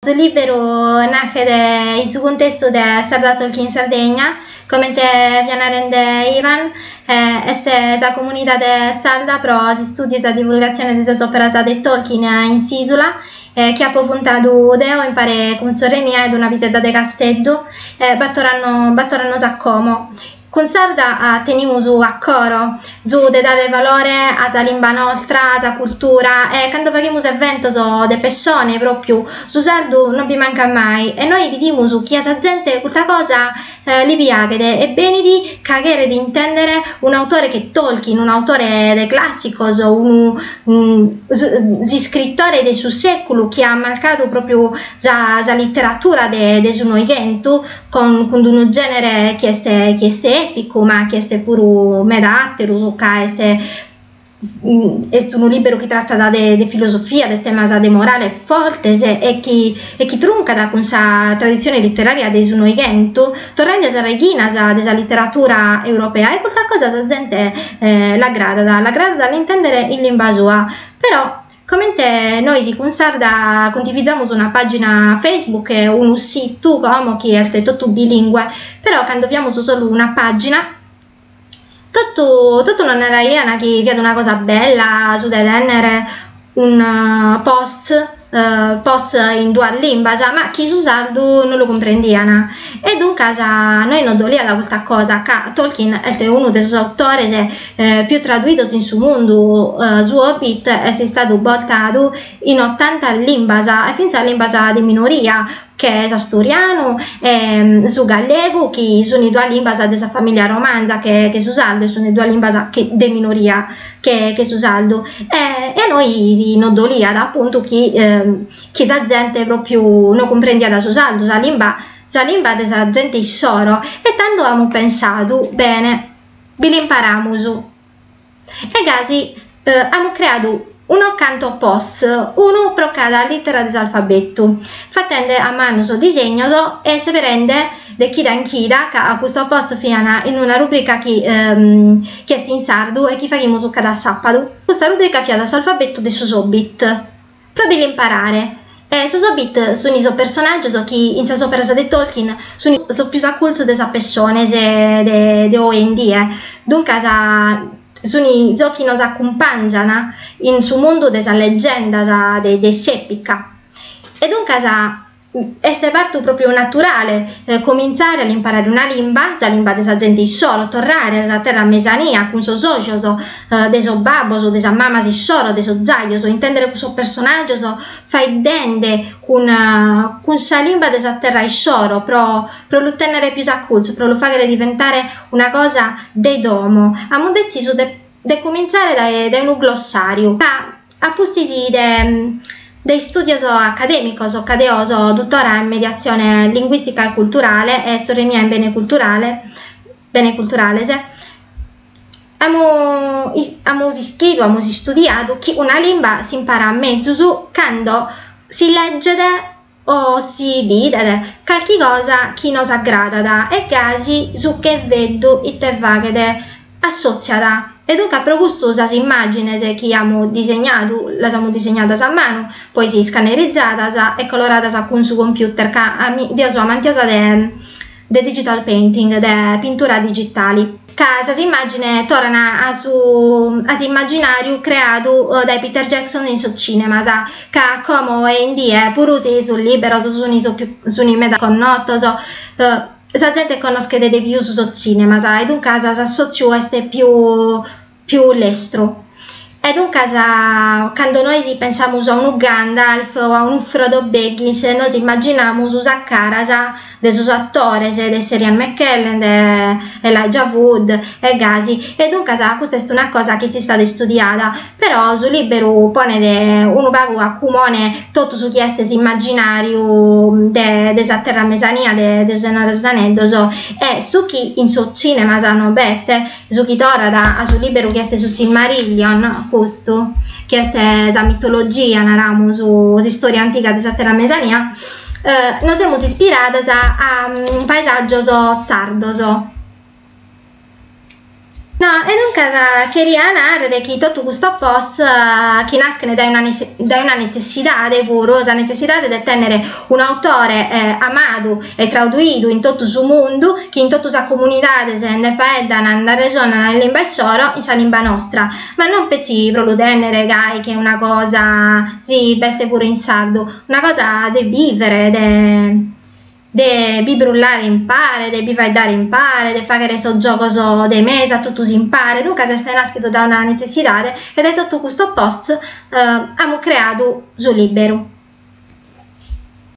Su lìberu naschet in su cuntestu de Sarda Tolkien Sardegna, comente fia narende Ivan, est sa comunidade sarda pro s'istùdiu e sa divulgatzione de sas òperas de Tolkien in s'ìsula, chi apo funtadu deo impare cun sorre mia e una pisedda de Casteddu, bàtoro annos a como. Cun Sarda tenimus a coro su de dare valore a sa limba nostra, a sa cultura e cando faghimus eventos de pessone pròpiu su sardu no bi mancat mai e nois bidimus chi a sa zente custa cosa li piaghet e benit ca cheret intèndere un'autore che Tolkien, un'autore de clàssicos, unu, s'iscritore de su sèculu chi at marcadu pròpiu sa literatura de su Noighentu, con cun d'unu genere chi est chi est èpicu, ma chi est puru meda àteru, ca est est unu liberu chi tratat de de filosofia, de temas de morale fortes e chi e chi truncat cun sa traditzione litteraria de su Noighentu, torrende a sas reghinas de sa litteratura europea e custa cosa sa zente l'aggradat, l'aggradat a l'intendere in limba sua, però Comente nois cun Sarda cundivizamus una pàgina Facebook e unu situ como chi est totu bilingue, però cando fiamus solu una pàgina totu totu nos naraian chi fiat una cosa bella su de tènnere un post post in duas limbas, ma chi su sardu non lu cumprendian. E duncas nois nos doliat custa cosa ca Tolkien est unu de sos autores pius traduidos in su mundu, su Hobbit est istadu bortadu in otanta limbas e fintzas limbas de minoria, che s'asturianu e su gallegu chi sunt duas limbas de sa famìllia romanza che che su sardu e sunt duas limbas chi de minoria che che su sardu e e a nois nos doliat apuntu chi chi sa zente pròpriu no cumprendiat su sardu, sa limba sa limba de sa zente issoro e tando amus pensadu, bene bi l'imparamus e gasi amus creadu unos cantos posts, unu pro cada lìtera de s'alfabetu, fatende a manu sos disegnos e seberende de chida in chida, ca custos posts fiant in una rubrica chi chi est in sardu e chi faghimus cada sàpadu, custa rubrica fiat s'alfabetu de sos Hobbit. Pro bi l'imparare. E sos Hobbit suni sos personàgios chi in sas òperas de Tolkien suni sos pius acurtzu de sas pessones de de oe in die, duncas suni sos chi nos acumpàngian in su mundu de sas legendas de de s'èpica. E duncas Est partu pròpiu naturale comintzare a l'imparare una limba, sa limba de sa zente issoro, torrare a sa terra mesania cun sos ojos de sos babbos, de sas mamas issoro, de sos giajos, intèndere cussos personàgios faeddende cun cun sa limba de sa terra issoro pro pro lu tènnere pius acurtzu, pro lu fàghere diventare una cosa de domo. Amus detzisu de de cumintzare dae dae unu glossàriu ca a pustis de de istùdios acadèmicos ca deo so dutora in mediatzione linguìstica e culturale e sorre mia in bene culturale bene culturales amu amus ischidu amus istudiadu chi una limba s'imparat mezus cando si legget o si bidet calchi cosa chi nos agradat e gasi su cherveddu ite faghet assotziat e duncas pro custu sas immàgines chi amus disegnadu las amus disegnadas a manu, poi si iscannerizzadas e coloradas cun su computer ca deo so amantiosa de digital painting, de pintura digitali. ca sas immàgines torran a su a s'immaginàriu creadu dae Peter Jackson in sos cìnemas, ca como oe in die puru si sos lìberos sun sos pius sun meda connotos, sa zente connoschet de pius sos cìnemas e duncas s'assòtziu est pius pius lestru. E duncas cando nois pensamus a unu Gandalf o a unu Frodo Baggins nos immaginamus sas caras de sos attores de Sir Ian McKellen, de Elijah Wood e gasi e duncas custa est una cosa chi est istada istudiada, però su lìberu ponet unu pagu a cumone totu su chi est s'immaginàriu de de sa Terra Mesania de de su Senore de sos Aneddos e su chi in sos cinemas no b'est Su chi torrat a su lìberu chi est su Silmarillion, custu, chi est sa mitologia, naramus, s'istòria antiga de sa Terra Mesania, nos semus ispiradas a paesàgios sardos. No, e duncas cheria nàrrere chi totu custos posts chi naschent dae una dae una netzessidade puru, sa netzessidade de tènnere un'autore amadu e traduidu in totu su mundu, chi in totu sas comunidades nde faeddan, nde arresonan in limba issoro, in sa limba nostra, ma non petzi pro lu tènnere gai che una cosa, si b'est puru in sardu, una cosa de bìvere, de de bi brullare impare, de bi faeddare impare, de fàghere sos giogos de mesa totus impare, duncas est nàschidu dae una netzessidade e dae totu custos posts amus creadu su lìberu.